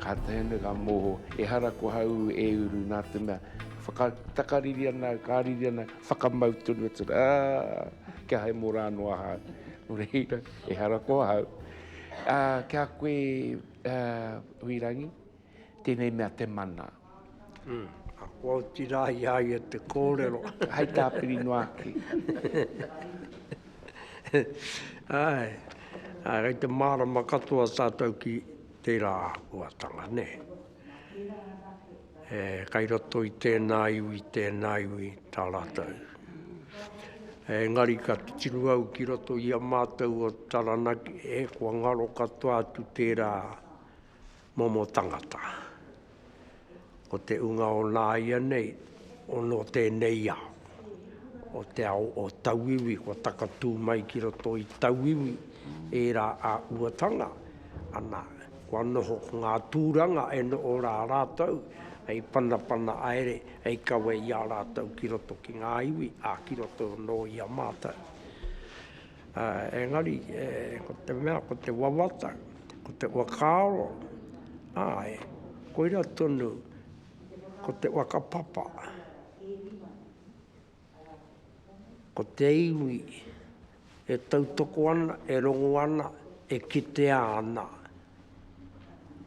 Ka tahuna, ka moho, ehara ko hau e uru nā te mea, whakatakariri ana, ka riri ana, whakamau tonu atu ana, ā, kia hae mō rā noa hau. Nō reira, ehara ko hau. Ā, ki a koe, ā, Huirangi, tēnei mea te mana. Kua oti rā i a ia te kōrero. Hei tā Pirinoaki. Āe, āe, kei te mārama katoa tātou ki tērā āhuatanga, nē. E, kei roto i tēnā iwi, tēnā iwi, tā rātou. Engari ka titiro au ki roto i a mātou o Taranaki, e, kua ngaro katoa atu tērā, Momo tangata. Ko te unga o nāianei, o nō tēnei ao. O te ao o tauiwi, kua takatū mai ki roto i tauiwi ērā āhuatanga. Ana, kua noho ko ngā tūranga e noho rā rātou, hei panapana haere, hei kawe i a rātou ki roto ki ngā iwi, ā, ki roto anō i a mātou. Engari, ko te mea, ko te wawata, ko te whakaaro, āe, koira tonu, ko te whakapapa, ko te iwi e tautoko ana, e rongo ana, e kitea ana,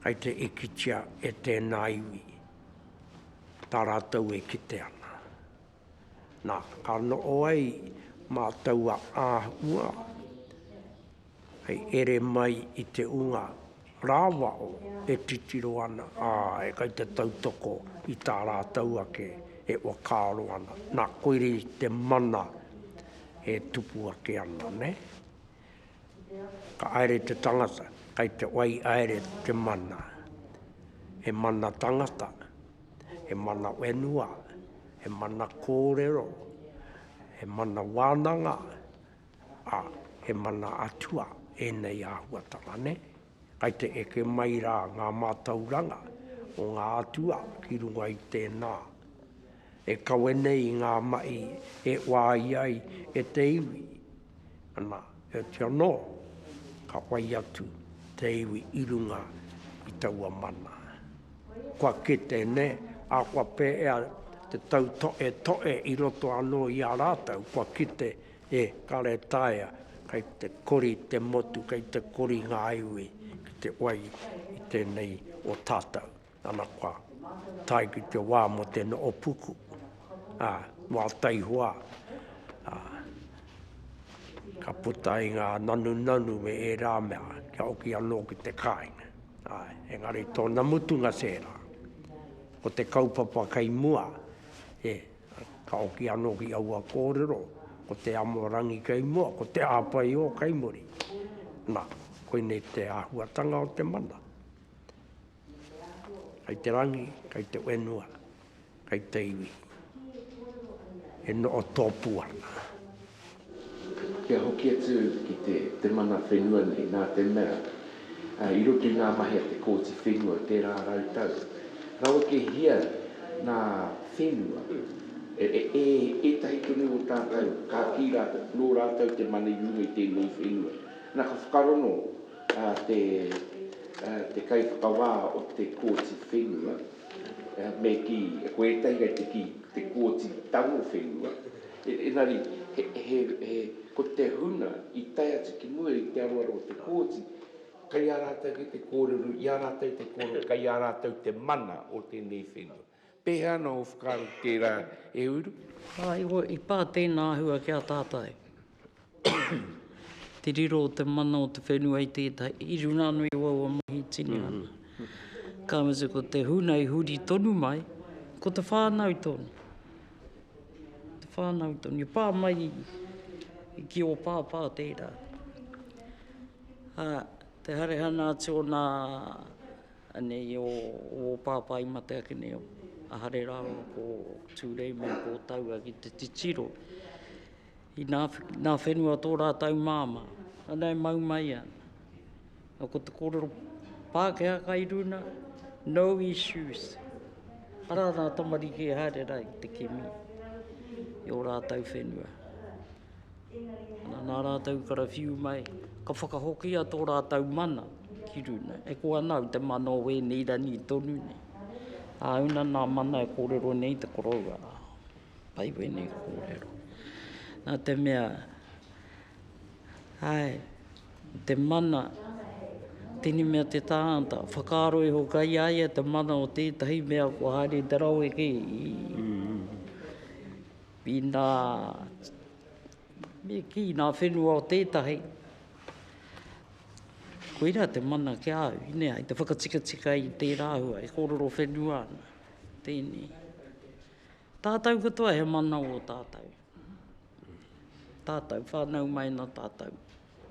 kai te ikitia e tēnā iwi, tā rātou e kite ana. Na, ka noho ai ma taua ahua, hei ere mai i te unga rawao e titiro ana, ae, kai te tautoko i ta ratou ake e whakaaro ana. Na, koirei te mana e tupu ake ana, ne? Ka aere te tangata, kai te wai aere te mana. He mana tangata, he mana whenua, he mana kōrero, he mana wānanga, ā, he mana atua ēnei āhuatanga nei. Kai te eke mai rā ngā mātauranga o ngā atua ki runga i tēnā, e kawe nei i ngā mahi e wāia ai e te iwi. Ana, heoti anō, ka whai atu te iwi i runga i taua mana. Kua kite nē, ā, kua pēea te tautoetoe i roto anō i a rātou, kua kite, e, ka retaea, kei te kori te motu, kei te kori ngā iwi ki te wai i tēnei o tātou. Ana kua tae ki te wā mo te noho puku, a, wā taihoa, a, ka puta i ngā nanunanu me ērā mea kia hoki anō ki te kāinga. Āe, engari tōna mutunga tērā. Ko te kaupapa kei mua, e, ka hoki anō ki aua kōrero, ko te amorangi kei mua, ko te āpaiō kei muri. Na, koinei te āhuatanga o te mana. Kei te rangi, kei te whenua, kei te iwi, e noho tōpū ana. Kia hoki atu ki te mana whenua nei, nā te mea, i roto i ngā mahi a te Kōti Whenua tērā rau tau, rawekehia ngā whenua e ētahi tonu o tātou, ka kī rātou, nō rātou te mana i runga i tēnei whenua. Nā, ka whakarongo. a te te kaiwhakawā o te Kōti Whenua, me kī, ko ētahi kei te kī, te Kōti Tango Whenua, engari, he, he, ko te huna i tae atu ki mua i te aroaro o te Kōti, kei a rātou ki te kōrero, i a rātou te kōrero, kei a rātou te mana o tēnei whenua. Pēhea anō ō whakaaro ki tērā, e Uru? Kāiho, i pā tēnā āhua ki a tātou. Te riro o te mana o te whenua i tētahi, i runga anō i aua mahi e tinihanga. Ka mutu, ko te huna i huri tonu mai, ko te whānau tonu. Te whānau tonu, i pā mai ki ō pāpā tērā. Te harehana atu o nā Anei o wō pāpā i mate ake nei o Ahare rāua ko Tūrei me ko Taua ki te titiro. I nā, nā whenua tō rātau māma. Ana e mau mai ana. A ko te kōrero Pākehā kai runa, no issues. Ara nā tamariki e haere rā i te kimi i o rātau whenua. Nā rātou karawhiu mai, ka whakahokia tō rātou mana ki runa. E koa nāu te mana o wēnei rangi tonu nei. Āuna nā mana e kōrero nei te koroua rā. Pai wēnei kōrero. Nā te mea, āe, te mana, tēnei mea te tāngata, whakaaro iho kai a ia te mana o tētahi mea kua haere te rawe kē. Ina me kī ngā whenua o tētahi, koira te mana ki a au, inea i te whakatikatika i tērā hua e kōrero whenua ana, tēnei. Tātou katoa he mana o tātou, tātou whānau mai nā tātou.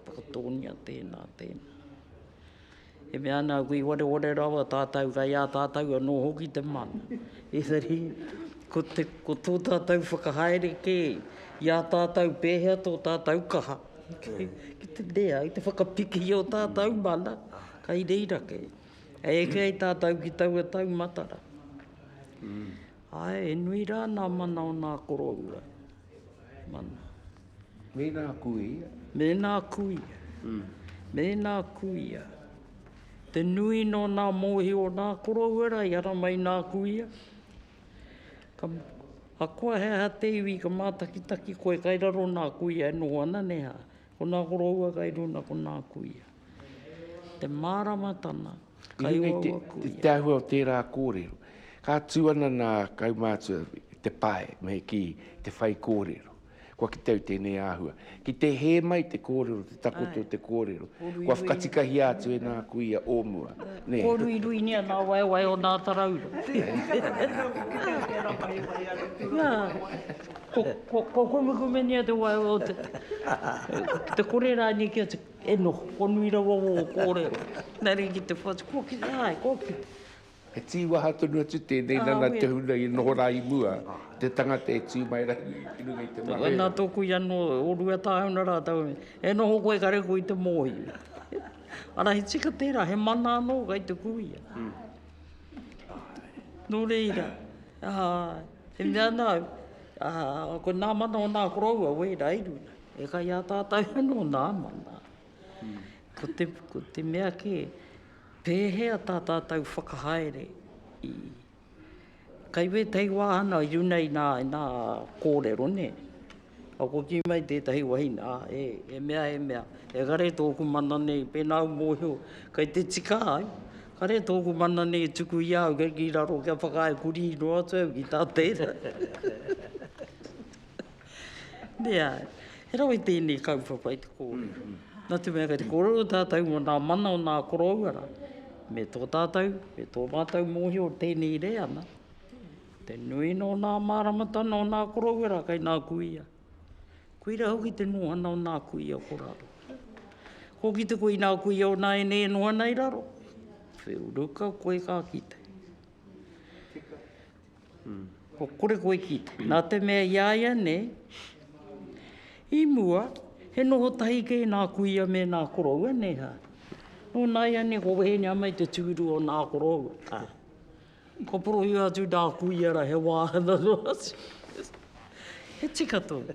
Ko Tōnia tēnā, tēnā. E mea ana au, i oreore rawa tātou, kei a tātou anō hoki te mana. Engari, ko te, ko tō tātou whakahaere kē, i a tātou pēhea tō tātou kaha, ki te rea, ki te whakapiki i ō tātou mana, kei reira kē. E eke ai tātou ki taua taumatara. Āe, e nui rā nā mana o nā koroua. Mēnā kuia. Mēnā kuia. Mēnā kuia. Te nui nō nā mōhi o nā koroua rā i ara mai nā kuia. A koa he aha te iwi ka mātakitaki koe kai raro nā kuia e noho ana neha. Ko nā koroua kai runa ko nā kuia. Te māramatanga. I runga i te āhua o tērā kōrero, ka tū ana nā kaumātua te pae me kī te whaikōrero. Kua kite au tēnei āhua. Ki te hē mai te kōrero, te takoto o te kōrero, kua whakatikahia atu e nā kuia o mua. Kōruiruingia nā waewae o nā tarauru. Kōkumekumengia te waewae o te kore rānei ki a te. E noho konui rawa wō kōrero. Na rī ki te whatu, kua kite ai, kua kite. He tīwaha tonu atu tēnei nana te huna i noho rā i mua, te tangata e tū mai rā i runga i te marae. Wai nā tōku i anō, o Ruatāhuna rātou, e noho koe kare koe i te mōhio. Ara he tika tērā, he mana anō kai te kuia. Nō reira, āe. E mea ana au, ā, ko nā mana o nā koroua wēra i runga. E kai a tātou anō nā mana. Ko te, ko te mea kē, pēhea tā tātou whakahaere i, kai wētahi wāhanga i runga i nā, i nā kōrero, nē? Ka koki mai tētahi wahine, ā, e, e mea, e mea, engari tōku mana nei, pēnā au mōhio, kei te tika ai, kare tōku mana nei e tuku i a au, kei ki raro kia whakaae kurī noa atu au ki tā tērā. Nē āe, he rawe tēnei kaupapa i te kōrero. Nā te mea kei te kōrero tātou mō nā mana o nā koroua rā, me tō tātou, me tō mātou mōhio tēnei reana, Te nui nō nā māramatanga o nā korowera kei nā kuia. Koira hoki te nohana o nā kuia ko raro. Ko kite koe i nā kuia o nā ene e nohana i raro. Wheu ruka koe ka kite. Hmm. Ko kore koe kite. Nā te mea i aia nei, i mua, he noho tahi kei nā kuia me nā koroua nei ha. Nō nāia nei ko wehenia mai te tūru o nā koroua. Ah. Kua porohia atu nā kuia rā he wāhanga noa atu. He tika tonu.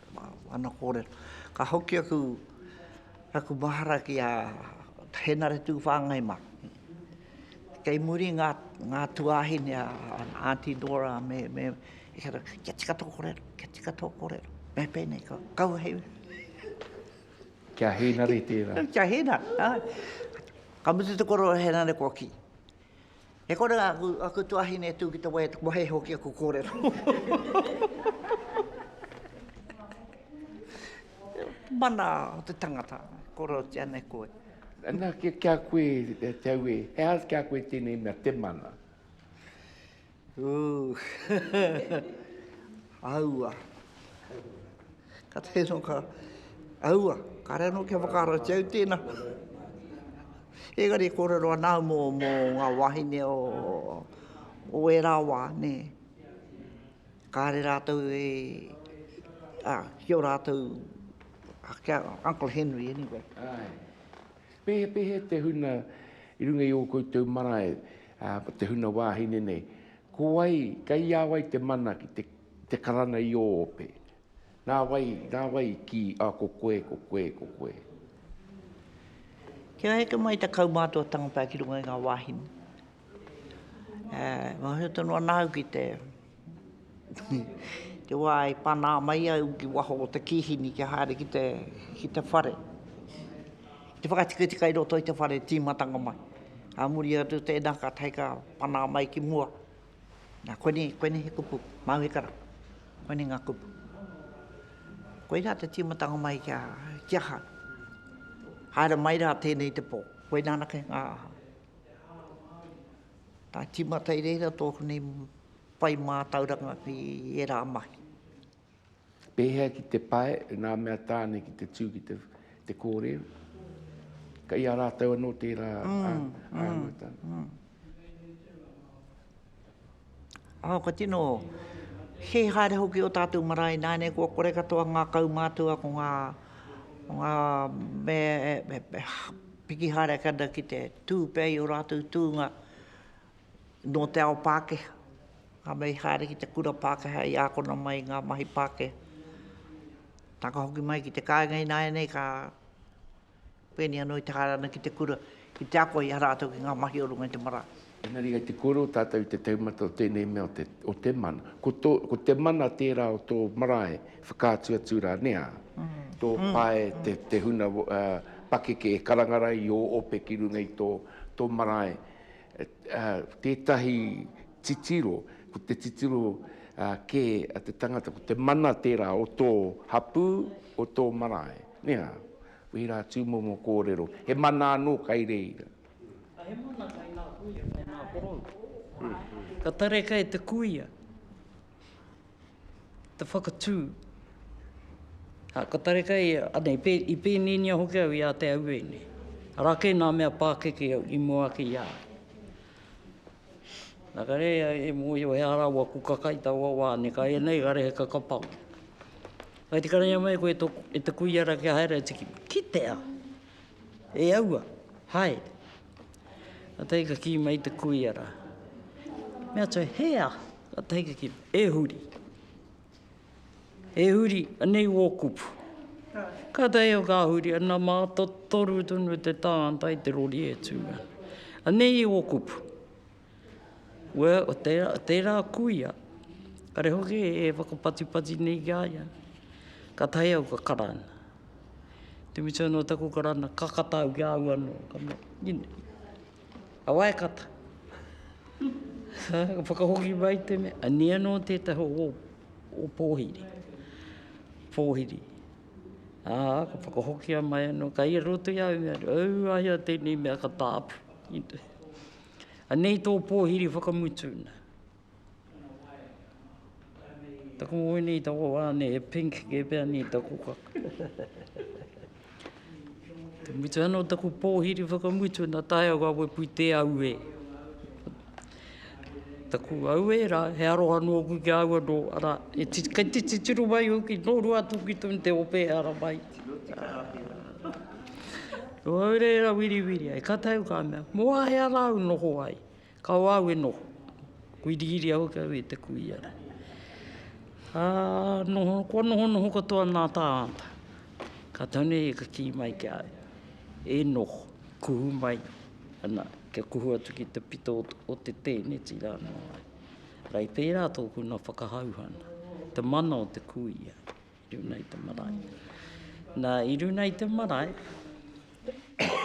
Ana kōrero. Ka hoki aku raku mahara ki a Henare Tūwhāngai mā. Kei muri ngā, ngā tuāhine a Aunty Dora me, me, e kata, kia tika tō kōrero, kia tika tō kōrero. Me pēnei, ka, kau hei. Kia Henare tērā. Kia Henare, āe. Ka mutu te kōrero a Henare kua kī. E kore rā, aku, aku tuahine e tū ki te wai e te kohe hoki aku kōrero. Mana o te tangata, korotia nei koe. Nā, kia, kia koe e te au e, he aha kia koe tēnei mea te mana? Ū, aua. Ka teke anō ka, aua, kāre anō kia whakaratia au tēnā. Engari e kōrero ana au mō, mō ngā wāhine o, o ērā wā, nē. Kāre rātou e, ā, ki ō rātou, ā, ki a Uncle Henry, anyway. Āe. Pēhea, pēhea te huna i runga i ō koutou marae, ā, te huna wāhine nei? Ko wai, kei a wai te mana ki te te karanga i ō ope. Nā wai, nā wai ki a ko koe, ko koe, ko koe. Kia heke mai ta kaumātuatanga pea ki runga i ngā wāhine. E, mōhio tonu ana au ki te te wā i panā mai au ki waho o te kīhini kia haere ki te, ki te whare. Te whakatikatika i roto i te whare tīmatanga mai. A muri atu tēnā, kātahi ka panā mai ki mua, Nā, koinei, koinei he kupu, Māui Kara. Koinei ngā kupu. Koirā te tīmatanga mai ki a, ki aha? Haere mai rā tēnei te pō. Koinā anake ngā aha? Tā tīmata i reira tōku nei whai mātauranga ki ērā mahi. Pēhea ki te pae, nā mea tāne ki te tū ki te kōrero. Kei a rātou anō tērā āngata. Ā, kua tino hē haere hoki ō tātou marae ināianei kua kore katoa ngā kaumātua ko ngā mea e piki haere ake ana ki te tū pea i ō rātou tūnga nō te ao Pākehā. Nā, me i haere ki te kura Pākehā i ākona mai i ngā mahi Pākehā. Nā, ka hoki mai ki te kāinga ināianei, ka pēnei anō i te haere ana ki te kura, ki te ako i a rātou ki ngā mahi o runga i te marae. Engari kei te kōrero tātou i te taumata o tēnei mea o te mana. Ko tō, ko te mana tērā o tō marae, whakaatu atu rā, nē ā? Tō pae, te, te huna pakeke e karanga rā i ō ope ki runga i tō, tō marae. Tētahi titiro, ko te titiro kē a te tangata, ko te mana tērā o tō hapū, o tō marae. Nē, wehi rā tūmomo kōrero, he mana anō kai reira. He mana kai ngā kuia, kai ngā korou. Ka tarekai te kuia. te whakatū. Ā, ka tareka ia, anei, pē, i pēnēnia hoki au i a te auē nei. Arā kē nā mea pākeke au, i mua ake i a au. Nā ka rehe au e mōhio he ara ua kuka kai taua wā nei, ka ea nei, ka rehe ka kapa au. Whai te karainga mai koe e tō, e te kuia rā kia haere atu ki, ki te ao. E aua, hae! Ka tae ka kī mai te kuia rā. Me atu, he aha? Ka tae ka kī, e huri. E huri, anei wō kupu. Ka tae au ka huri, ana mā, totoru tonu te tānta i te rori e tū ana. Anei wō kupu. Well, o tērā, tērā kuia, kare hoki e whakapatipati nei ki a ia, kātahi au ka karanga. Te mita nō taku karanga, ka kata au ki a au anō, ka mea, you know, a wai kata? ka whakahoki mai te mea, ania nō tētahi o ō pōhiri, pōhiri. Ā, ka whakahokia mai anō, ka i roto i au i mea, aua ia tēnei mea ka tāpu, you know. Anei tō pōhiri whakamutu na. Taku ngoi nei, taku wā nei, he pink kē pea nei taku kaka. Ka mutu anō taku pōhiri whakamutu na tae au a Wepu i te auē. Taku auē rā, he aroha nōku ki a au anō, arā, kei te titiro mai hoki, nō rua atu ki tō te ope ara mai. Au reira wiriwiri ai, ka tau ka mea, mō a hea rā au noho ai? Ka o au e noho. Wiriwiri hoki au i te kuia rā. Ka noho, kua noho noho katoa nā tāngata. Ka tau nei ka kī mai ki a au, e noho, kuhu mai, ana, kia kuhu atu ki te pito o te tēneti rā nō au. Rei pērā tōku nā whakahauhana, te mana o te kuia. I runa i te marae. Na, i runa i te marae,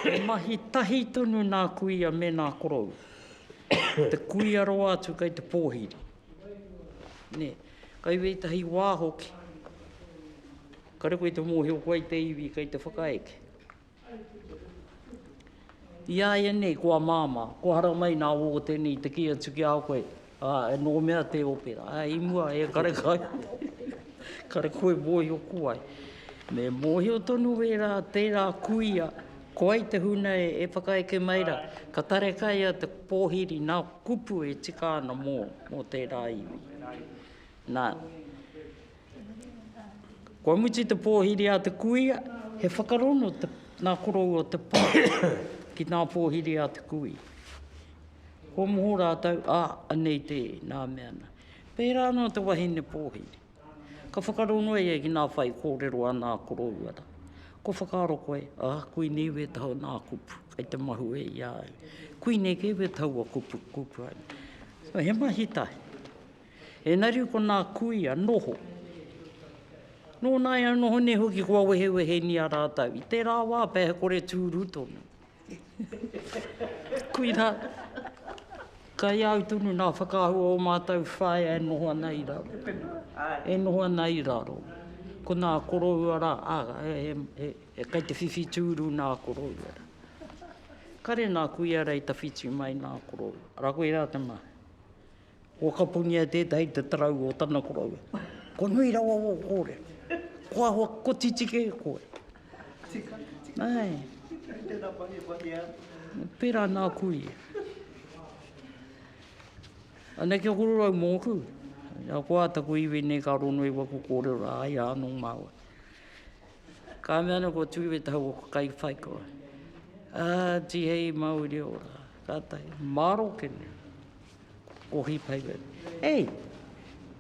he mahi tahi tonu nā kuia me nā korou. Te kuia roa atu kei te pōhiri. Nē, kai wētahi wā hoki, kare koe te mōhio koe i te iwi kei te whakaeke. I a ia nei, kua māmā, kua haramai nā wō tēnei i te kī atu ki a koe, ā, nō mea tē ope rā, ā, i mua, e kare kai, kare koe mōhio ko wai. Me mōhio tonu wērā, tērā kuia, ko wai te huna e whakaeke mai rā, ka tarekaia te pōhiri nā kupu e tika ana mō, mō tērā iwi. Nā. Kua mutu te pōhiri a te kuia, he whakarono te, nā korou o te pā ki nā pōhiri a te kuia. Kua moho rātou, a, anei te, nā mea nā. Pērā anō te wahine pōhiri. Ka whakarono ia ki nā whai kōrero a nā koroua rā. Kua whakaaro koe, a, kuini iwi e taua nā kupu, kei te mahue i a au. Kuini kē we taua kupu, kupu. He mahi tahi. Enari ko nā kuia noho. Nō nāi au noho nei hoki kua wehewehengia rātou. I tērā wā pea he kore tūru tonu. Koirā, kai a au tonu nā whakaahua o mātou whaea e noho ana i raro. E noho ana i raro. Ko nā koroua rā, ā, he kai te whiwhi tūru nā koroua rā. Kare nā kuia rā i tawhiti mai nā koroua. Ara koirā te mahi. Whakapunia tētahi te tarau o tana koroua. Ko nui rawa wō kōrero. Ko ahua kotiti kē koe. Tika, tika. Ai. Kei tēnā mahi, mahi a. Pērā nāku ia. Anei kia kororau mōku. Ia koa taku iwi nei ka rono i waku kōrero rā, ai rā anō māua. Ka mea ana ko Tūiwi te hau o ka kai whai koa. Ā, tihei Māori ora. Kātahi, mārokene. Ko He Paper, Ei!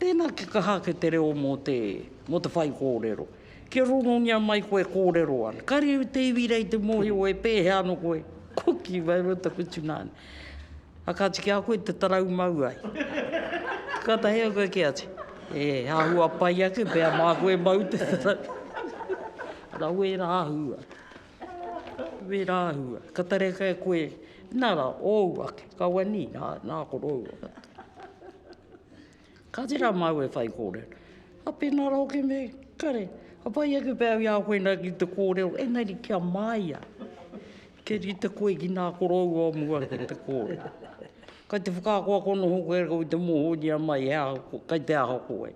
Tēnā kia kaha ake te reo mō te, mō te whai kōrero. Kia rongongia mai koe e kōrero ana. Kāre au te iwi rei te mōhio e pēhea ana koe. Ko ki mai ro taku tsunami. A kāti ki a koe te tarau mau ai. Ka tahi au koe ki ati. E, āhua pai ake, pēa mā koe mau te tarau. Rawe rā hua. Wē rāua, ka tareka e koe, nā rā, ōu ake, ka wani, nā ko rōua katoa. Ka tērā māua e whai kōrero. Ka pēnā rā hoki me, kare, ka pai ake pea au i a koe nā ki te kōrero, engari kia māia, kia rite koe ki nā ko rōua o mua ki te kōrero. Kai te whakaakoako noho koe rāua i te mōhioria mai he aha, kai te aha koe.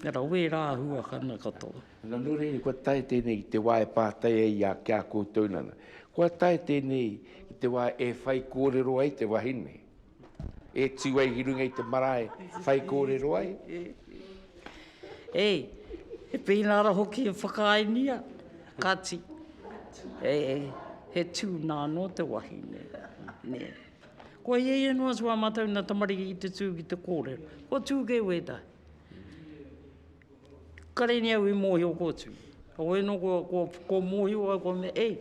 Nā rā, wē rāua, ka mea katoa. Nā, nō reira, kua tae tēnei ki te wā e pātai ai i a, ki a koutou nana. Kua tae tēnei ki te wā e whai kōrero ai te wahine, e tū ai ki runga i te marae whai kōrero ai. E, he pēnara hoki e whakaaengia, kāti, e, he tūnā anō te wahine, nē. Kua hiahia noa atu ā mātou nā tamariki ki te tū ki te kōrero. Kua tū kē wētahi. Kareni au i mōhio ko Tū. Wai nō kua mōhio au kua mea, ei,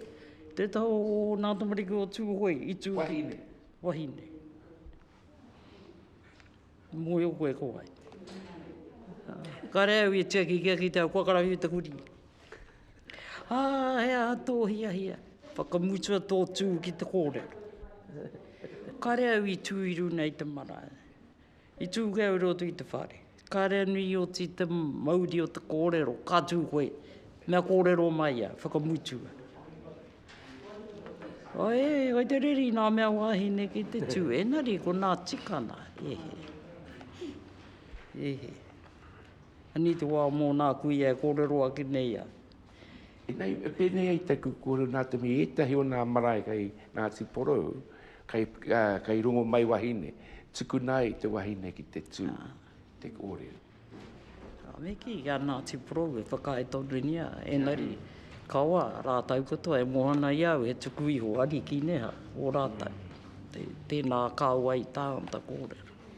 tē taha o nā tamariki o Tū hoi i tū ki te wahine. Mōhio koe ko wai. Kare au i tiaki kia kitea kua karawhiu te kurī. Ā, he aha tō hiahia? Whakamutua tō Tū ki te kōrero. Kare au i tū i runga i te marae. I tū kē au rōtu i te whare. Kāre anu i oti te mauri o te kōrero, ka tū koe, mea kōrero mai ia, whakamutua. Ae, kai te reri nā mea wāhine ki te tū, engari ko nā tikana, he he. He he. Anei te wā mō nā kuia e kōrero ake nei a. Inei, e pēnei ai te kuku reo nā te mea ētahi o nā marae kei Ngāti Porou, kei, ā, kei rongo mai wahine, tukuna ai te wahine ki te tū te kōrero. Ka miki i a Ngāti Porou e whakaae tonu nei, engari, kawa rātau katoa e moana i a au, he tuku iho ariki neha o rātau. Tēnā kāua i tā ngata kōrero.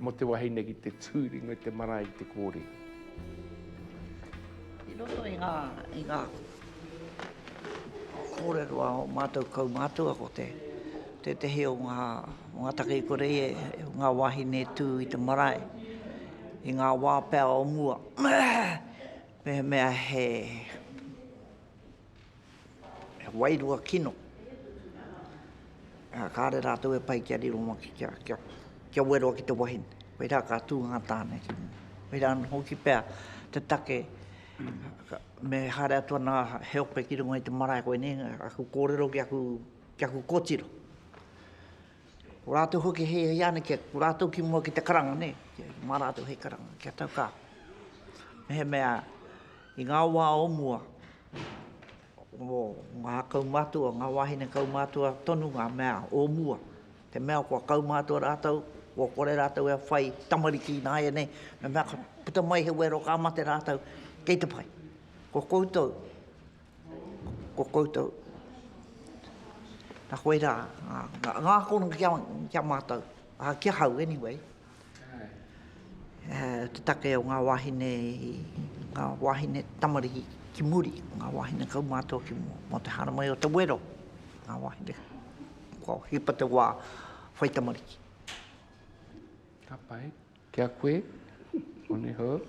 Mo te wahine ki te tu ringa i te marae i te kore. I roto i nga, i nga korero a o matou kaumatua ko te, tetehi o nga, o nga take i kore i e, nga wahine e tu i te marae, i nga wa pea o mua, mehemea he, He wairua kino. Ā, kāre rātou e pai kia riro mā, kia, kia, kia weroa ki te wahine. Koirā ka tū ngā tāne ki runga. Koirā anō hoki pea te take me haere atu ana he ope ki runga i te marae koinei, aku kōrero ki aku, ki aku kōtiro. Ko rātou hoki he hiana kia, ko rātou ki mua ki te karanga, nē, mā rātou hei karanga, kia tau ka. Mehemea i ngā wā o mua, o ngā kaumātua, ngā wāhine kaumātua tonu ngā mea o mua, te mea kua kaumātua rātou, kua kore rātou e whai tamariki ināianei, mehemea ka puta mai he wero ka mate rātou, kei te pai. Ko koutou, Ko koutou. Na koe rā, ngā kono ki a mātou, ki ahau anyway, te take o ngā wāhine, ngā wāhine tamariki ki muri, ngā wāhine kaumātua ki mua, mō te haramai o te wero, ngā wāhine kua hipa te wā whai tamariki. Ka pai. Ki a koe, one ho.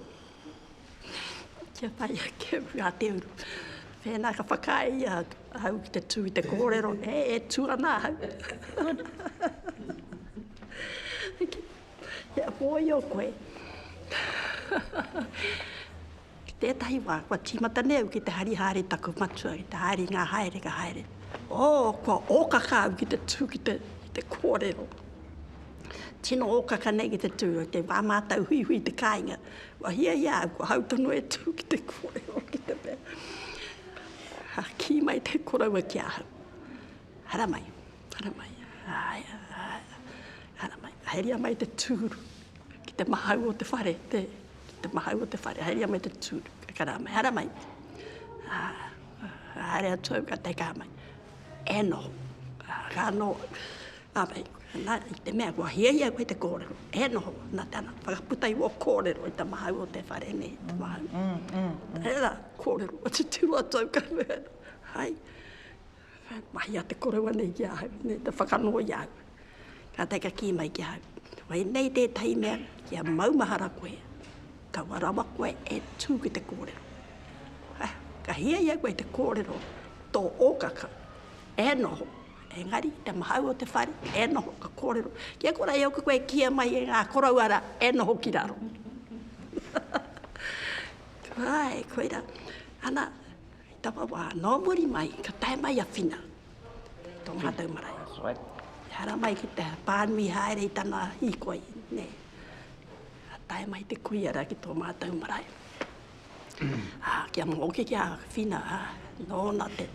Kia pai ake au a te uru. Pēnā ka whakaae ia ahau ki te tū i te kōrero, e, e tū ana ahau. Kia mōhio koe. Ki tētahi wā, kua tīmata nei au ki te hari haere taku matua, ki te haere i ngā haere ka haere. Oh, kua ōkaka au ki te tū ki te, ki te kōrero. Tino ōkaka nei ki te tū, kei wā mātau huihui te kāinga. Kua hiahia au, kua hau tonu e tū ki te kōrero, ki te mea. Ka kī mai te koroua ki ahau, Haramai, haramai, āe, āe, haramai, ka heria mai te tūru. Ki te mahau o te whare, te, ki te mahau o te whare, haerea mai te tū, ka karā mai, hara mai. Ah, haere atu au, ka teikā mai. E no, ka no, a mei, na, i te mea, kua hiahia koe te kōrero. E no, na te ana, whakaputa i wō kōrero, i te mahau o te whare, nei, te mahau. Mm, mm, mm. Hera, kōrero, atu tū atu au, ka mea, hai, Mahi a te koroua nei ki ahau, me te whakanō i ahau. Kātahi ka kī mai ki ahau, koinei tētahi mea kia maumahara koe, kaua rawa koe e tū ki te kōrero. Ah, ka hiahia koe i te kōrero tō ōkaka, e noho, engari te mahau o te whare, e noho, ka kōrero, kia kora e oku koe e kīia mai e ngā koroua rā, e noho ki raro. Āe, koirā. Ana, Hei taua wā, nō muri mai, ka tae mai a Whina tō mātou marae. That's right. Ehara mai ki te pānui haere i tana hīkoi, nē. Ka tae mai te kuia rā ki tō mātou marae. Ā, kia mōke ki a Whina, ā, nōna te,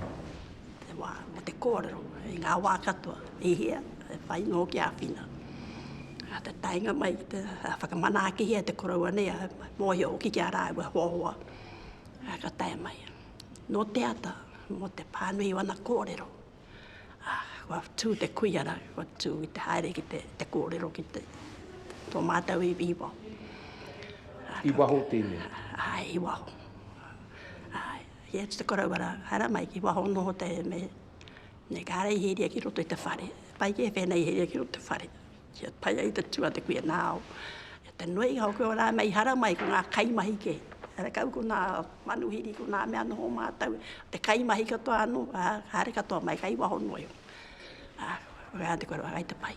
te wā, mō te kōrero, i ngā wā katoa, i hea, e whai nō ki a Whina. Ā, te taenga mai, te, ā, whakamanaakihia te koroua nei, ā, mōhio hoki ki a rāua hoa hoa. Ā, ka tae mai. Nō te ata, mō te pānui o ana kōrero, ā, kua tū te kuia rā, kua tū i te haere ki te, te kōrero ki te, tō mātou iwi i waho. Ā, ka. I waho tēnei? Āe, i waho. Āe, i atu te koroua rā, haere mai, i waho noho te, me, me Kāreihīria ki roto i te whare. Pai kē pēnei i Hīria ki roto i te whare. Kia tae ai te tua te kuia nao. E te noei hau koe ora mei hara mai ko nga kaimahi ke. Ara kau ko nga manuhiri ko nga mea noho matou. Te kaimahi katoa ano, a, hare katoa mai kai waho noio. A, koe a te koroa kai te pai.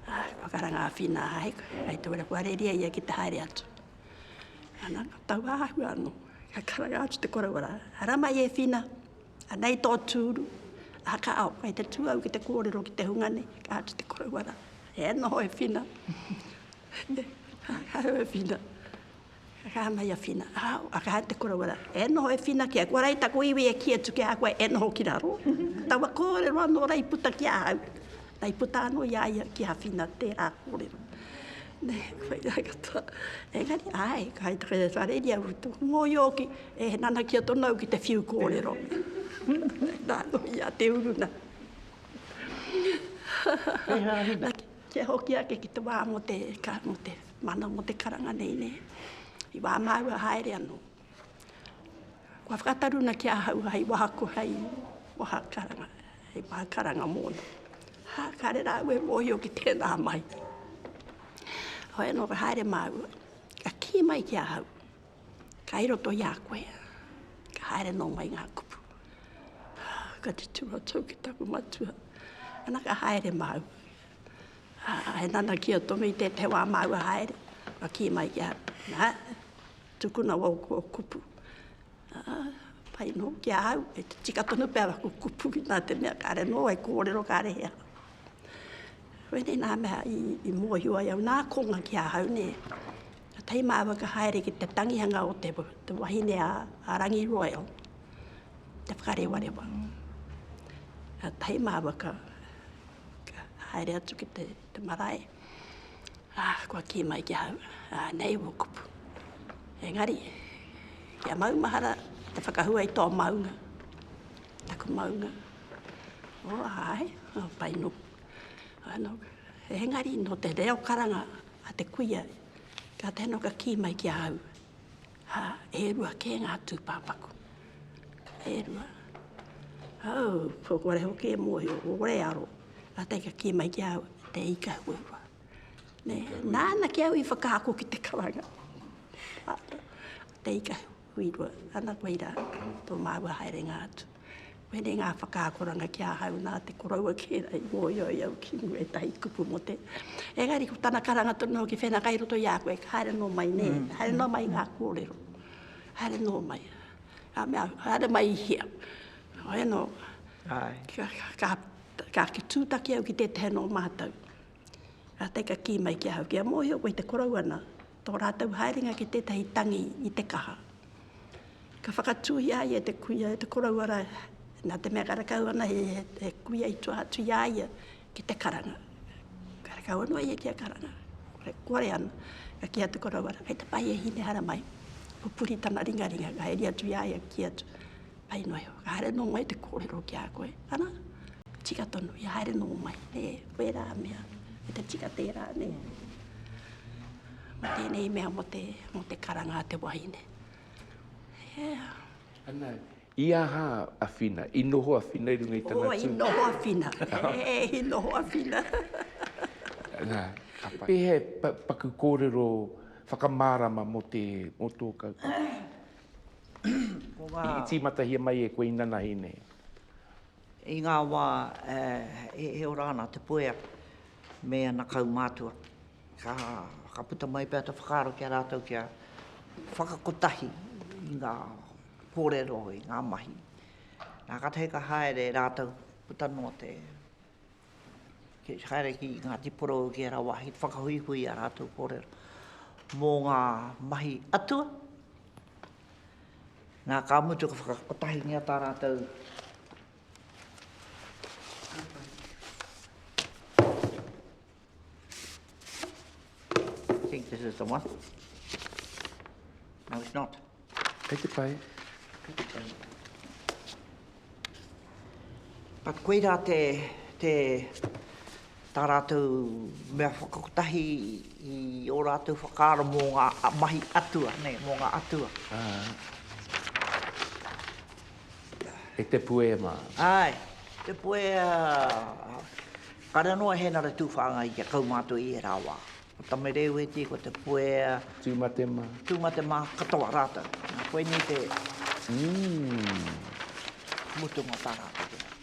A, koe kara nga whina hai koe. Kai te wera kua reria ia ki te haere atu. Ana, tau ahua ano. Ka karanga atu te koroa ra. Hara mai e whina. Anei tō tūru, aha ka ao, kei te tū au ki te kōrero ki te hunga nei, ka atu te koroua rā, e noho e Whina, ka hau e Whina, ka kaha mai a Whina, ao, ka hau te koroua rā, e noho e Whina kia, kua rei taku iwi e kī atu ki a koe, e noho ki raro, taua kōrero anō rei puta ki ahau. I puta ano i a ia ki awhina tera korero. Ne, whairae katoa. Engari, ae, kai te kere whare ria utu. Ngo i oki, e he nana ki a tonu au ki te whiu korero. Na ano i a te uruna. Kia hoki ake ki te wa mo te, mo te mana, mo te karanga nei, ne. I wa mau a haere ano. Kua whakataruna ki ahau hai wahako, hai wahakaranga, hai wahakaranga mōna. Ha, kare rā ue mōhio ki tēnā mai. Hoi anō ka haere māua, ka kī mai ki ahau, kai roto i a koe, ka haere nō mai ngā kupu. Ha, ka tutu ratou ki taku matua, ana ka haere māua. Ha, he nana ki a Tomi tētahi wā māua haere, ka kī mai ki ahau, nā, Tukuna wau ko kupu. Aa, pai no ki a au, e tika tonu pea aku kupu ki ta te mea kare no e korero kare he aha. Koinei na mea i, i mohio ai au, na konga ki a au ne. Ka tei ma whakahaere ki te tangihanga o te, te wahine a, a Rangi Royal, te whakarewarewa. Ka tei ma waka, ka haere atu ki te, te marae. Ā, kua kī mai ki ahau, Ā, nei wō kupu. Engari, kia maumahara te whakahua i tō maunga, taku maunga. Ō, āe, ā, pai nō. Ā, nō, engari, nō te reo karanga a te kuia, ka tae nō ka kī mai ki ahau, Ā, e rua kē ngā tūpāpaku, e rua. Au, ko kore hoki e mōhio, ko kore e aro, ā, tei ka kī mai ki au, te ika huarua. Nē, nāna ki au i whakaako ki te karanga. Ā, te ika huarua, ana koe rā, tō māua haerenga atu. Koinei ngā whakaakoranga ki ahau nā te koroua kēra i mōhio i au ki mua ētahi kupu mō te. Engari ko tana karanga tonu hoki whenaka i roto i a koe, haere nō mai nē, mm. haere nō mai ngā kōrero, haere nō mai. Ka mea, haere mai i hea. Ai nō, ka, ka, ka, ka tūtaki au ki tētahi nō mātou. Rātou ka kī mai ki ahau, Kia mōhio koe te korou ana, tō rātou haerenga ki tētahi tangi i te kaha. Ka whakatūi a ia te kuia e te korou ara, nā te mea ka rakau ana he, he, he kuia i tua atu i a ia ki te karanga. Ka rakau anō ia ki a karanga. Kore, kore ana. Ka kī a te korou ara, kei te pai e hine hara mai. Pupuri tana ringaringa, ka haere atu i a ia, ka kī atu, Pai noa iho, ka haere noa mai te kōrero ki a koe. Ana? Tika tonu, i haere nō mai, nē, koe rā mea, me te tika tērā, nē. Mō tēnei mea, mō te, mō te karanga a te wahine. Yeah. Ana, i aha a Whina? I noho a Whina i runga i tana tū? Oh, i noho a Whina. He, i noho a Whina. Nā, ka pai. Pēhea e paku kōrero whakamārama mō te, mō tō kaupapa? Ko ngā. I tīmatahia mai e koe inanahi nei? I ngā wā he ora ana te puea me ana kaumātua, ka whakaputa mai pea te whakaaro ki a rātou kia whakakotahi i ngā kōrero, i ngā mahi. Nā, kātahi ka haere rātou, puta noa te. Kia haere ki Ngāti Porou ki ērā wāhi te whakahuihui i ā rātou kōrero mō ngā mahi atua. Nā, ka mutu ka whakakotahingia tā rātou I think this is the one. No, it's not. Kei te pai. Kei te pai. But koirā te, te, tā rātou mea whakakotahi i ō rātou whakaaro mō ngā mahi atua, nei, mō ngā atua. Ah. E te puea mā. Ai, te puea. Kare anō e Hēnare Tūwhāngai kia kaumātua i ērā wā. Ko Tamereueti, ko Te Puea. Tūmatema. Tūmatema katoa rātou. Nā, koinei te mutunga o tā rātou te rā.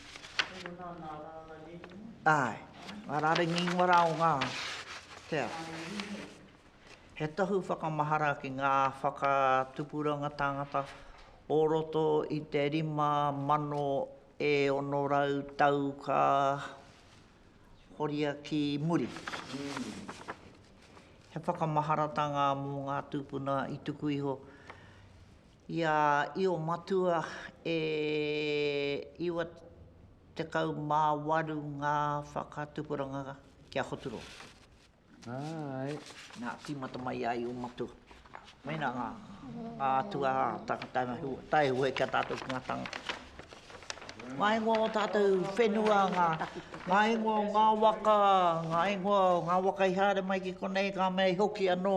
Heoi nā, ngā rārangi ingoa. Āe, ngā rārangi ingoa rā o ngā, te ao. He tohu whakamahara ki ngā whakatupuranga tāngata o roto i te rima mano e ono rau tau ka. horia ki muri. He whakamaharatanga mō ngā tūpuna i tuku iho i a Io Matua e 98 ngā whakatupuranga ki a Hoturoa. Āe. Nā, tīmata mai ai ō matua. Mēnā ngā, ngā atua tangata me hua, tae hua ki a tātou ki ngā tangata. Ngā ingoa o tātou whenua, ngā, ngā ingoa o ngā waka, ngā ingoa o ngā waka i haere mai ki konei, ngā mea i hoki anō.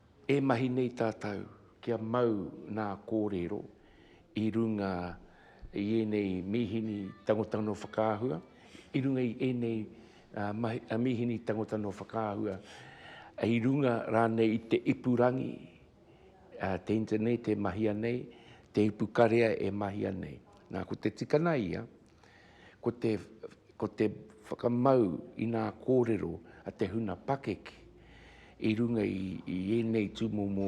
E mahi nei tātou kia mau nā kōrero i runga i ēnei mīhini tangota nō whakaahua, i runga i ēnei mīhini tangota nō whakaahua, i runga rānei i te ipurangi, te internet e mahia nei, te ipukarea e mahia nei. Nā, ko te tikana ia, Ko te, ko te whakamau i nā kōrero a te huna pakeke i runga i, i ēnei tūmomo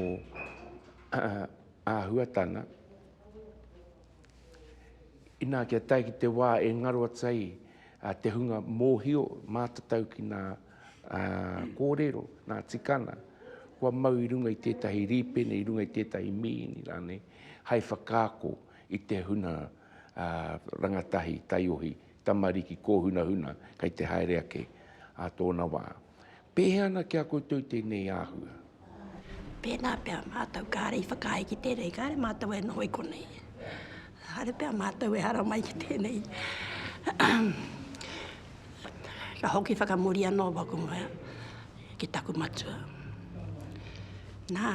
āhuatanga, inā kia tae ki te wā e ngaro atu ai te hunga mōhio mātatau ki nā kōrero, nā tikana, kua mau i runga i tētahi rīpene, i runga i tētahi mīhini rānei, hai whakaako I te huna a rangatahi, taiohi, tamariki, kōhunahuna kei te haere ake a tōna wā. Pēhea ana ki a koutou tēnei āhua? Pēnā pea mātou kāre i whakaae ki tēnei, kāre mātou e noho i konei. Kāre pea mātou e haramai ki tēnei. Ka hoki whakamuri anō waku mea. ki taku matua. Nā,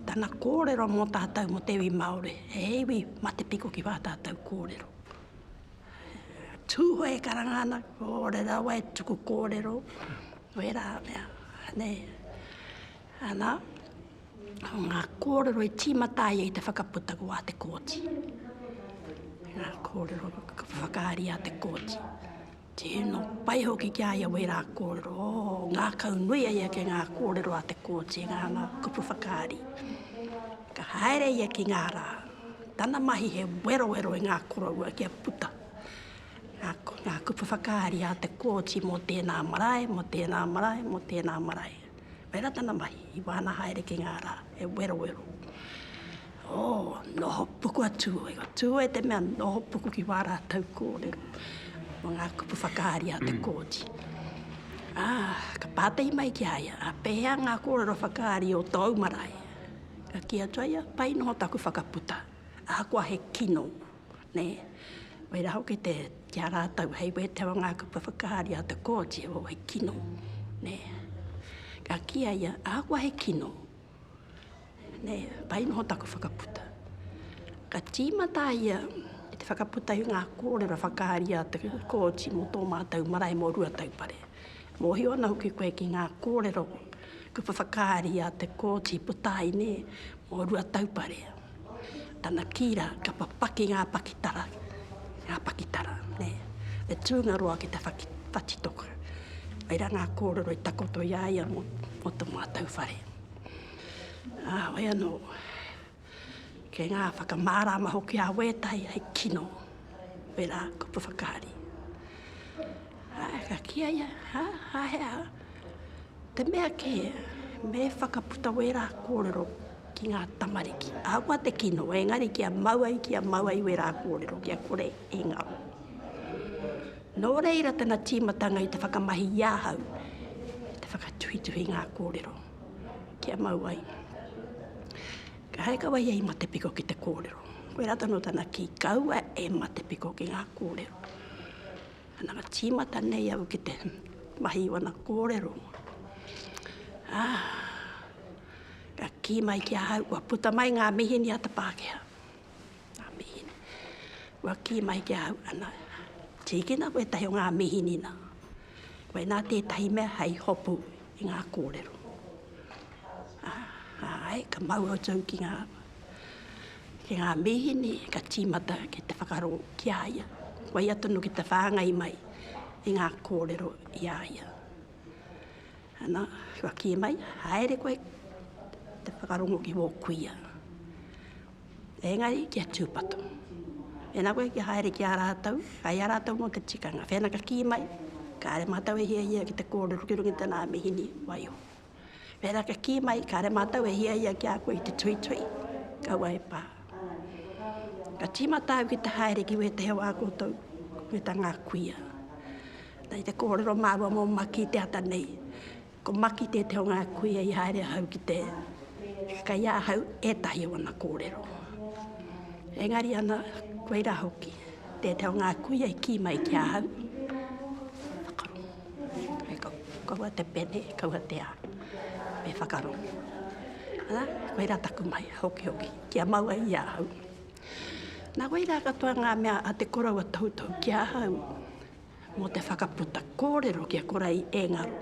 tana kōrero mō tātou mō te iwi Māori, he iwi matepiko ki wā tātou kōrero. Tūhoe e karanga ana, ōre rawa e tuku kōrero, wē rā mea, nei. Ana, ngā kōrero i tīmata ai i te whakaputa ko a te kōti. Ngā kōrero whakaari a te kōti. Tino pai hoki ki a ia wera korero, ngakau nui a ia ki nga korero a te koti, nga nga kupu whakaari. Ka haere ia ki nga ra, tana mahi he werowero i nga koroua kia puta nga, nga kupu whakaari a te koti mo tena marae, mo tena marae, mo tena marae. Whai ratana mai, i wāna haere ki ngā rā, he werowero. Oh, noho puku a Tūoe. Ko Tūoe te mea noho puku ki wā rātou kōrero. Mō ngā kupu whakaari a te kōti. Ah, ka pātai mai ki a ia, a pēhea ngā kōrero whakaari o tōu marae? Ka kī atu a ia, pai noho taku whakaputa, ahakoa he kino. nē, wera hoki te, ki a rātou hei wētewa ngā kupu whakaari a te Kooti o he kino, nē. Ka kī a ia, ahakoa he kino, nē, pai noho taku whakaputa. Ka tīmata a ia ki te whakaputa i ngā kōrero whakaari a te Kooti mō tō mātou marae mō Ruataupare. Mōhio ana hoki koe ki ngā kōrero kupu whakaari a te Kooti puta ai nē, mō Ruataupare. Tana kī rā, ka papaki ngā pakitara, ngā pakitara, nē, e tūngaroa ki te whaki, whatitoka. Whai rā ngā kōrero i takoto i a ia mō, mō tō mātou whare. Ā, whai anō, kei ngā whakamārāma hoki a Wētai hei kino, wērā kupu whakaari. Ā, ka kī a ia, hā, hāhea, Te mea kē, me whakaputa wērā kōrero ki ngā tamariki. Ahakoa te kino, engari kia mau ai, kia mau ai wērā kōrero, kia kore e ngaro. Nō reira tana tīmatanga i te whakamahi i ahau, te whakatuhituhi ngā kōrero, kia mau ai. Ka hai kawa ia i Matepiko ki te kōrero. Koe rata no tana kī, kaua e Matepiko ki ngā kōrero. Nana tīmata nei au ki te mahi o ana kōrero. Ā, ka kī mai ki ahau, kua puta mai ngā mīhini a te Pākehā. Ngā mīhini. Kua kī mai ki ahau, ana, tīkina koe ētahi o ngā mīhini nā. Koinā tētahi mea hei hopu i ngā kōrero. Ā, āe, ka mau au tau ki ngā. ki ngā mīhini ka tīmata ki te whakarō ki a ia, waia tonu ki te whāngai mai i ngā kōrero i a ia. Ana, kua kī mai, haere koe te whakarongo ki wō kuia. Engari, kia tūpato. Ena koe kia haere ki a rātou, kai a rātou mō te tikanga. Whena ka kī mai, kāre mātou e hiahia ki te kōrero ki runga i tēnā mīhini, waiho. Pērā ka kī mai, kāre mātou e hiahia ki a koe i te tuitui, kaua e pā. Ka tīmata au ki te haere ki wētehi o ā koutou kuta ngā kuia. Nei te kōrero māua mō Maki te ata nei. Ko Maki tētehi o ngā kuia i haere ahau ki te kai ahau ētahi o ana kōrero. Engari ana, koirā hoki, tētehi o ngā kuia i kī mai ki ahau. Hei kau, kaua te pene, kaua te a, me whakarongo. Ara, koe ra taku mai, hokihoki, kia maua i a au. Na wai ra katoa nga mea a te korou a toutou ki a au, mo te whakaputa korero ki a kora i engaro.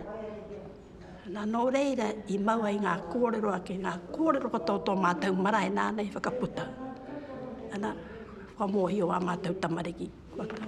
Na no reira i mau ai nga korero ake, nga korero katoa o to matou marae nana i whakaputa. Ana, whakamohio a matou tamariki, kua kaha.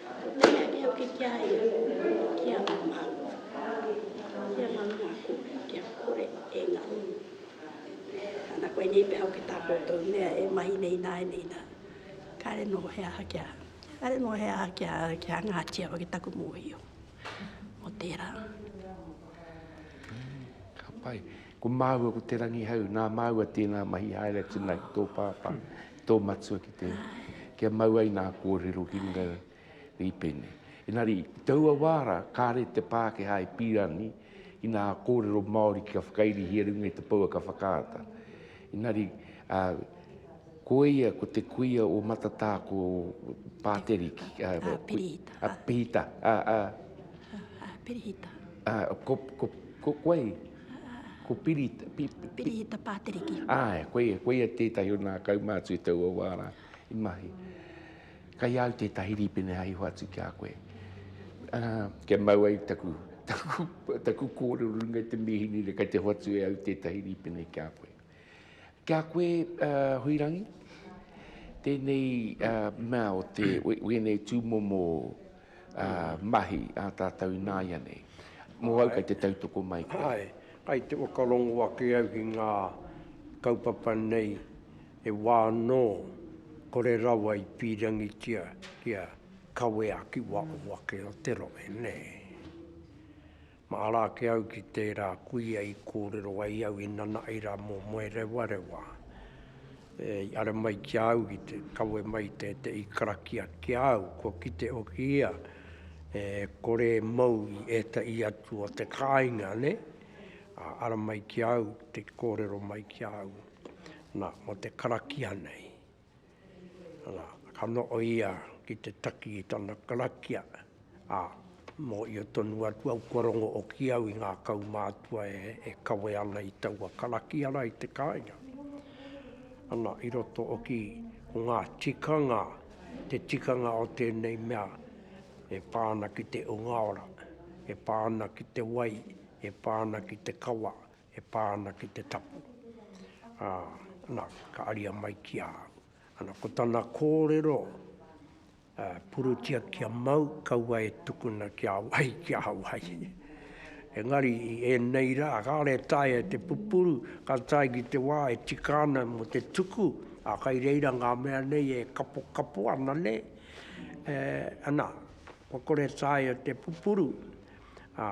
Kei a ia hoki ki a ia, ki a ngā mākua, ki a ngā mākua, kia kore e ngaro. Ana koinei pea hoki tā koutou mea e mahi nei nāianei nā, kāre noho he aha kia, kāre noho he aha kia, kia hangātia hoki taku mōhio mō tērā. Ka pai. Ko māua ko Te Rangihau, nā māua tēnā mahi haere atu nā ki tō pāpā, tō matua ki te, kia mau ai nā kōrero ki runga i pēnei. Engari, i taua wā rā, kāre te Pākehā i pīra ni, ki nā kōrero Māori kia whakairihia runga i te pouaka whakaata. Engari, a, ko ia, ko te kuia o Matatā, ko Pāteriki. A, a Pirihita. A Pirihita. A, a, a Pirihita. A, ko, ko, ko, ko, koe, Ko Piri... Pirihita Pāteriki. Āe, koia, koia tētahi o nā kaumātua i taua wā rā, i mahi. Kai au tētahi rīpene hai iho atu ki a koe. Uh, kia mau ai taku, taku, taku kōrero runga te mīhini re kai te hoatu e au tētahi rīpene ki a koe. Ki a koe, Huirangi, tēnei mea o te wēnei tūmomo mahi a tātou ināianei. Mō au kei te tautoko mai koe. Āe, kai te whakarongo ake au ki ngā kaupapa nei he wā anō kore rawa i pīrangitia kia kawea ki waho ake o te rohe, nē. Mahara ake au ki tērā kuia i kōrero ai au i nana ai rā mō Moerewarewa. I ara mai ki a au ki te kawe mai i tētehi karakia ki a au, kua kite hoki ia e kore e mau i ētahi atu o te kāinga, nē? Ā, ara mai ki a au te kōrero mai ki a au, nā, mō te karakia nei. Ana, ka noho ia ki te taki i tana karakia, ā, mōhio tonu atu au kua rongo hoki au i ngā kaumātua e kawe ana i taua karakia rā i te kāinga. Ana, i roto hoki ko ngā tikanga, te tikanga o tēnei mea e pā ana ki te hunga ora, e pā ana ki te wai, e pā ana ki te kawa, e pā ana ki te tapu, ā, nā, ka aria mai ki a au. Ana, ko tana kōrero, ā, purutia kia mau, kaua e tukuna ki a wai, ki a wai. Engari, i ēnei rā, kāore e taea e te pupuru, ka tae ki te wā e tika ana mō te tuku, ā, kai reira ngā mea nei e kapokapo ana nei, e, ana, kua kore e taea te pupuru, ā,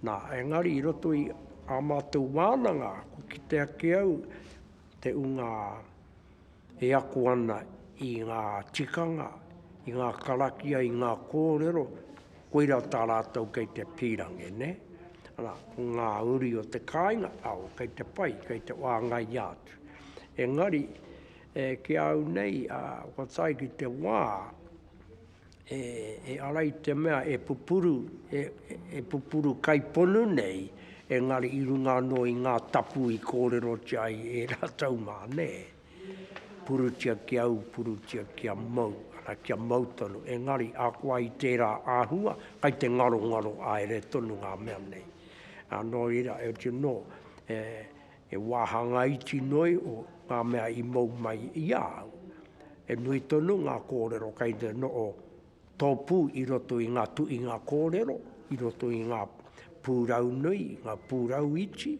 Nā, engari i roto i ā mātou wānanga, kua kite ake au te ūnga e ako ana i ngā tikanga, i ngā karakia, i ngā kōrero, koirā tā rātou kei te pīrangi, nē? Arā, ko ngā uri o te kāinga, ao, kei te pai, kei te wāngaia atu. Engari, e, ki a au nei, kua tae ki te wā, e, e ara i te mea e pupuru, e, e pupuru kai ponu nei, engari i runga anō i ngā tapu i kōrerotia ai e rātou mā, nē. Purutia ki au, purutia ki a mau, ara ki a mau tonu, engari akoa i tērā āhua, kai te ngarongaro aere tonu ngā mea nei. Anō ira, as you know, e, He wāhanga iti noi o ngā mea i mau mai i a au. He nui tonu ngā kōrero kei te noho tōpū i roto i ngā tuhinga kōrero, i roto i ngā pūrau nui, ngā pūrau iti,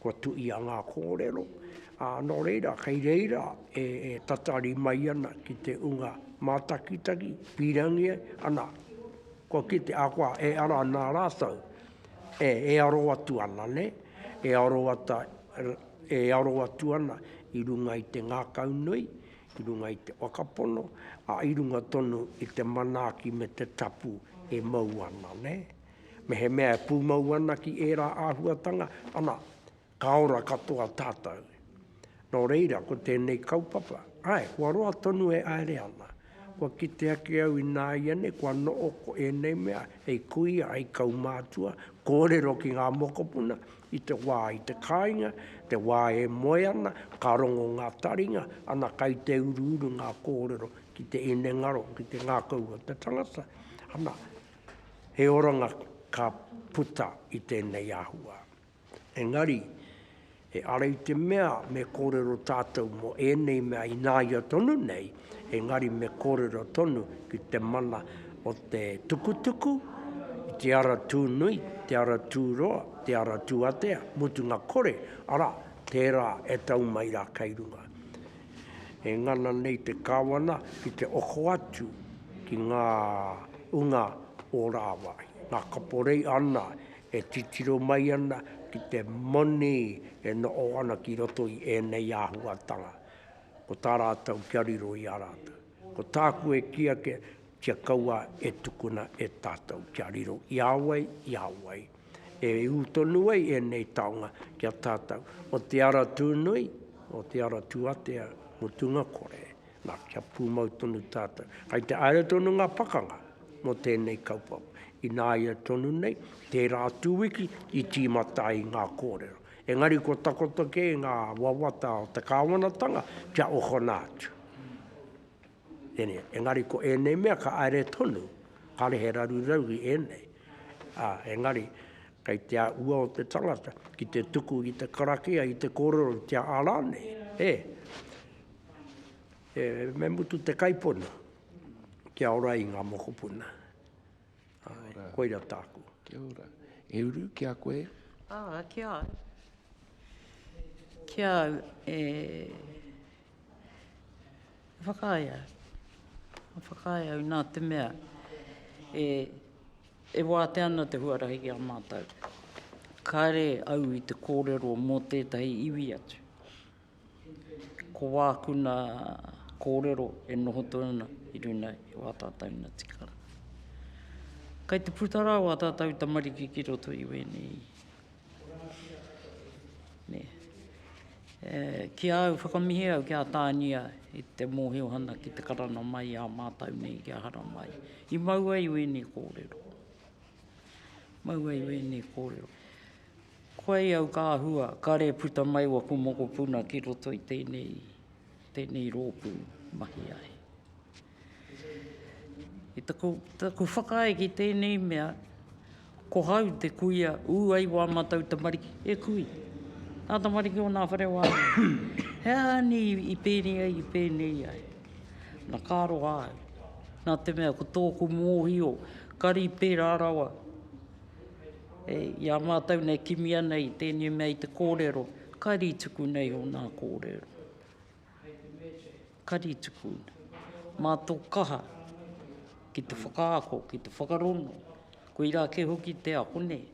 kua tuhia ngā kōrero, ā, nō reira, kei reira e tatari mai ana ki te unga mātakitaki, pīrangi ana, kua kite, ahakoa e ara ana rātou, E aro atu ana, nē, e aro ata, e aro atu ana i runga i te ngākau nui, i runga i te whakapono, ā, i runga tonu i te manaaki me te tapu e mau ana, nē. Mehemea e pūmau ana ki ērā āhuatanga, ana, Ka ora katoa tātou. Nō reira, ko tēnei kaupapa, āe, kua roa tonu e aere ana. Kua kite ake au ināiane kua noho ko ēnei mea hei kuia, hei kaumātua, kōrero ki ngā mokopuna, i te wā, i te kāinga, te wā e moe ana, ka rongo ngā taringa, ana kai te uruuru ngā kōrero ki te inengaro, ki te ngākau o te tangata. Ana, he oranga ka puta i tēnei āhua. Engari, he ara i te mea me kōrero tātou mō ēnei mea ināia tonu nei, engari me kōrero tonu ki te mana o te tukutuku, i te ara tūnui, te ara tūroa, te ara tūatea, mutunga kore, arā, tērā e tau mai rā kei runga. E ngana nei te Kāwana ki te oko atu ki ngā unga o rāwai, ngā kaporei ana E titiro mai ana ki te moni e noho ana ki roto i ēnei āhuatanga, ko tā rātou kia riro i a rātou. Ko tāku e kī ake, kia kaua e tukuna e tātou, kia riro i a wai, i a wai. E ū tonu ai ēnei taonga ki a tātou, o Te Ara Tūnui, o Te Ara Tūatea, mutunga kore. Na, kia pumau tonu tatou. Kai te aia tonu nga pakanga mo tenei kaupapa. Inaia tonu nei, tera atu wiki i timata ai nga korero. Engari kua takoto kei nga wawata o te kawanatanga kia ohona atu. Tenia, engari ko enei mea ka aia tonu, kare he raru rauhi enei. A, engari, kai te aua o te tangata ki te tuku i te karakia, i te korero, i te ara nei. E. E, me mutu te kaipona, kia ora i ngā mokopuna. Ai, koira tāku. Kia ora. E uru, ki a koe? Ā, ki a au. Ki a au, e, e whakaae au. E whakaae au nā te mea, e, e wātea ana te huarahi ki a mātou. Kāre au i te kōrero mō tētahi iwi atu. Ko wāku nā kōrero e noho tonu ana i runga i wā tātou nā tikanga. Kai te puta rā wā tātou tamariki ki roto i wēnei. Nē. E, ki au, whakamihi au ki a Tānia i te mōhiohana ki te karana mai i a mātou nei ki a Haramai. I mau ai wēnei kōrero. Mau ai wēnei kōrero. Koei au ka hua, kare puta mai waku mokopuna ki roto i tenei, tenei roopu mahi ai. I taku, taku whakaae ki tenei mea, ko hau te kuia u ai wa matou tamariki, e kui. Nga tamariki o nga whare wa he aha ni i penei ai, i penei ai. Na ka roa au, na te mea ko toku mohio, kari pera rawa, i a mātou nei kimi ana i tēnei mea i te kōrero, kari tuku nei o nā kōrero. Kari tuku. Mā tō kaha ki te whakaako, ki te whakarono, koirā kē hoki te ako nei.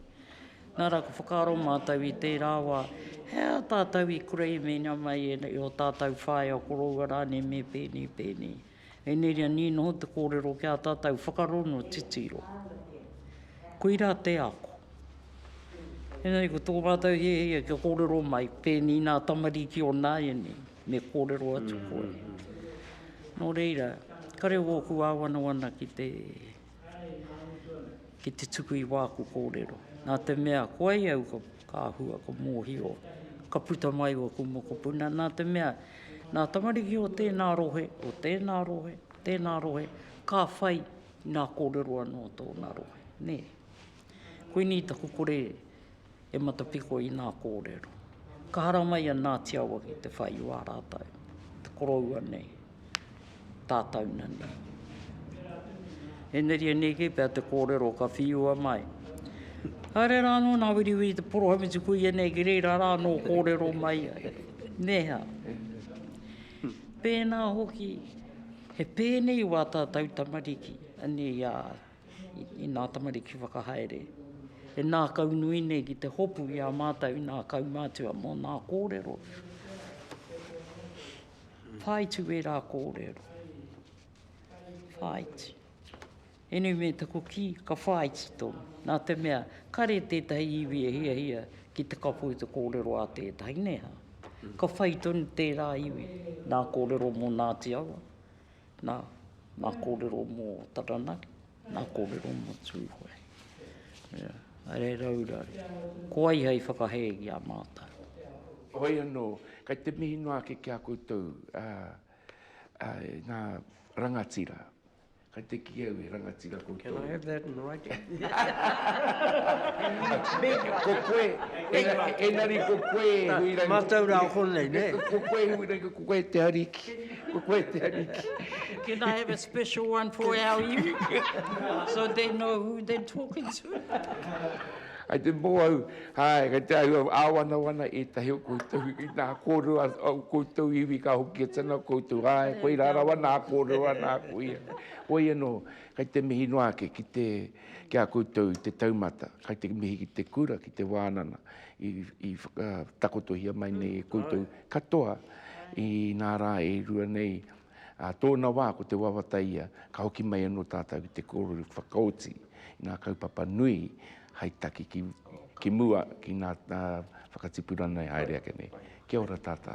Nā rā ka whakaaro mātou i tērā wā, he aha tātou i kura i mēnā mai e o tātou whaea, o koroua rānei me pēnei, pēnei. Engari a Ni noho te kōrero ki a tātou whakarongo titiro. Koirā te ako. Engari ko tō rātou hiahia kia kōrero mai, pēnī nā tamariki o nāianei, me kōrero atu koe. Nō reira, kare ōku āwanawana ki te. ki te tuku i wāku kōrero. Nā te mea koa i au ka, ka hua, ka mōhio, ka puta mai o aku mokopuna, nā te mea, nā tamariki o tēnā rohe, o tēnā rohe, tēnā rohe, ka whai nā kōrero anō o tōna rohe, nē. Koinei taku kore, e matapiko i nā kōrero. Ka haramai ia nā Te Awa ki te whai i wā rātau, te koroua nei, tātau na nei. E neria nei kē pea te kōrero ka whiua mai. Haere rā anō nā Wiriwiri te poroha me te kuia nei ki reira rā anō kōrero mai ai. Me hea? Pēnā hoki, he pēnei wā tātau tamariki, anei a. i nā tamariki whakahaere, e nākau nui nei ki te hopu i a mātou i nā kaumātua mō nā kōrero. Whāitu ērā kōrero. Whāitu. Ēnei me taku kī, ka whāiti tonu. Nā te mea, kare tētahi iwi e hiahia ki te kapo i te kōrero a tētahi, nē hā? Ka whai tonu tērā iwi nā kōrero mō Ngāti Awa. Nā, nā kōrero mō Taranaki, nā kōrero mō Tūhoe. Ea, haere raura, ko ai hei whakahē i a mātou. Hoi anō, kei te mihi noa ake ki a koutou, ā, ā, ngā rangatira. Kei te kī au he rangatira koutou. Can I have that in writing? Ko koe, engari ko koe, Huirangi. Mātou rā konei, nē? Ko koe, Huirangi, ko koe te ariki. Ko koe te ariki. Can I have a special one for our iwi? so they know who they're talking to. Ai te mō au, hai, kai te au, āwana wana e tahi o koutou, i nā kōrua o koutou iwi ka hoki e tana koutou, hai, koi rāra wa nā kōrua nā kuia. Hoi anō, kai te mihi noa ake ki te, ki a koutou i te taumata, kai te mihi ki te kura, ki te wānana, i, i whakatakotohia mai nei e koutou. Katoa i nā rā e rua nei, ā tōna wā ko te wawata ia, ka hoki mai anō tātou ki te kōrero whakaoti i ngā kaupapa nui hai taki ki mua ki ngā whakatipuranga e haere ake nei. Kia ora tātā.